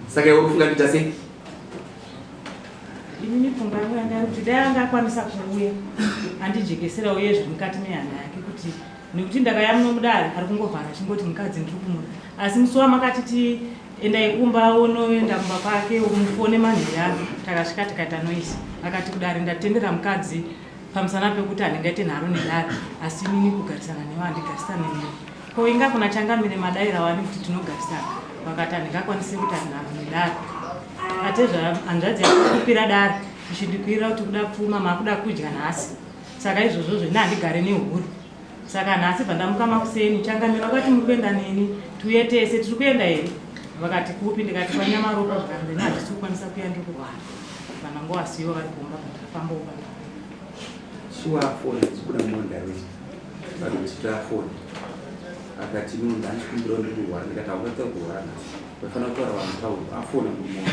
saka iwe kufunga kuita sei ini mifunga yangu yanga iri kuti dai anga akwanisa kuuya andijekesera uye zviri mukati mehana yake kuti nekuti ndakayamuno mudare ari kungovhara chingoti mukadzi ndiri kumuda asi musi wamakatiti endai kumba unoenda kumba kwake umufone manheru ano takasvika tikaita noise akati kudare ndatendera mukadzi pamusana pekuti handingaite nharo nedare asi inini kugarisana newe handigarisane newe ko inga kuna changamire madaira wani kuti tinogarisana vakati handingakwanisi kuita nharo nedare atezva hanzvadzi yakupira dare ichindikuirira kuti kuda pfuma makuda kudya nhasi saka izvozvo zvene handigare nehuru saka nhasi pandamuka makuseni changamira vakati muri kuenda neni tiuye tese tiri kuenda here vakati kupi ndikati kwanyamaropa zvikanzi ini hatisi kukwanisa kuya ndiri kurwara vana ngo vasiyo vari kumba kutafamba uba shuwa foni dzibuda mondirect vanhu vachitira foni akati no ndandikumbira ndiri kurwara ndikati haungatsa kurwara nhasi vafanira kutaura vanhu taurwa afona kumuoa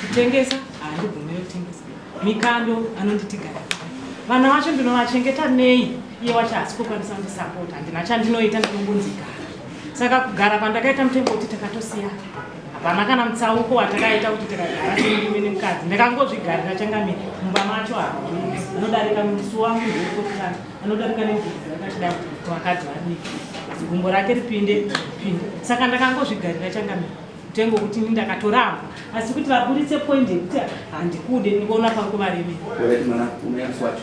kutengesa handibvumire kutengesa mikando anonditigara vana vacho ndinovachengeta nei iye wacho hasi kukwanisa kundisapota handina chandinoita ndinongonzigara saka kugara kwandakaita mutengo kuti takatosiya hapana kana mutsauko watakaita kuti tikagara timurume nemukadzi ndakangozvigarira changamire mumba macho hao anodarika musi wangu ndokotana anodarika nemvuuakatida vakadzi vadiki zigumbo rake ripinde pinde saka ndakangozvigarira changamire Tengo kuti ini ndakatoramba asi kuti vaburitse point yekuti handikude ndikuona panguva remene. Mwana unoyamswacho.